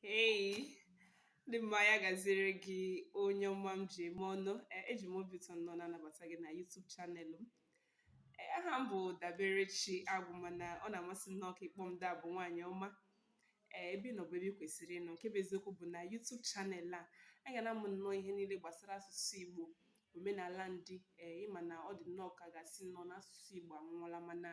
Hey, ndị mma ya gaziere gị onye ọma m ji eme ọnụ Eh, eji m obi ụtọ nọ na-anabata gị na YouTube channel m Eh, aha m bụ Daberechi Agwụ mana ọ na-amasị m nnọọ ka ị kpọọ m Dabụ nwaanyị ọma ee ebe ị nọ bụ ebe ị kwesịrị ịnọ nke bụ eziokwu bụ na YouTube channel a a ga na-amụ nnọọ ihe niile gbasara asụsụ Igbo omenala ndị ee ị ma na ọ dị nnọọ ka a ga-asị nnọọ na asụsụ Igbo anwụọla mana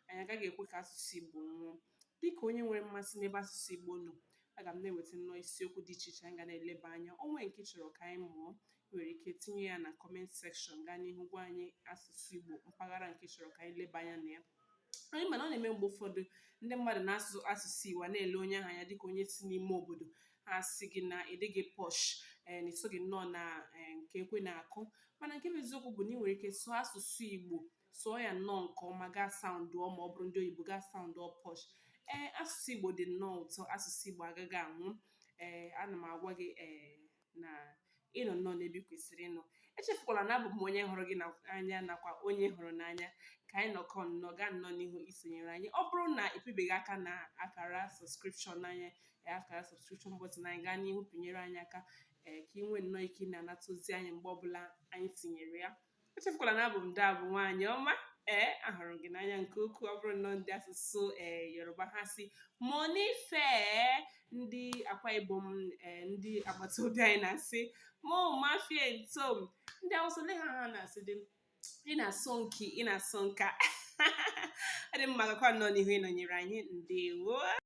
anyị agaghị ekwe ka asụsụ Igbo nwụọ Dịka onye nwere mmasị n'ebe asụsụ Igbo nọ, aga m na-eweta nnọọ isiokwu dị iche iche anyị ga na-eleba anya. O nwee nke ị chọrọ ka anyị mụọ, i nwere ike tinye ya na comment section gaa n'ihu gwa anyị asụsụ Igbo mpaghara nke ị chọrọ ka anyị leba anya na ya. Anyị ma na ọ na-eme mgbe ụfọdụ ndị mmadụ na-asụ asụsụ Igbo a na-ele onye ahụ anya dịka onye si n'ime obodo ha asị gị na ị dịghị posh ee na i soghị nnọọ na ee, nke ekwe na-akụ mana nke bụ eziokwu bụ na i nwere ike sụọ asụsụ Igbo sụọ ya nnọọ nke ọma gaa saụndụọ ma ọ bụrụ ndị oyibo gaa saụndụọ posh ee asụsụ igbo dị nnọọ ụtọ asụsụ igbo agaghị anwụ ee ana m agwa gị ee na ị nọ nnọọ n'ebe ị kwesịrị ịnọ echefukwala na abụ m onye hụrụ gị n'anya nakwa onye hụrụ n'anya ka anyị nọkọ nnọọ gaa nnọọ n'ihu isonyere anyị ọ bụrụ na ị pịbeghị aka na akara subscription anyị akara subscription button anyị gaa n'ihu pịnyere anyị aka ee ka ị nwee nnọọ ike ị na-anata ozi anyị mgbe ọbụla anyị tinyere ya echefukwala na abụ m Dabụ nwaanyị ọma ee ahụrụ m gị n'anya nke ukwuu ọ bụrụ nnọọ ndị asụsụ ee yoruba ha sị mo nife ndị akwa ibom ee ndị agbata obi anyị na-asị mu ma fien tom ndị awụsa onwe ha ha na-asị dị ina son ki ina son ka ọ dị mma gakwa nnọọ n'ihu ịnọnyere anyị ndewo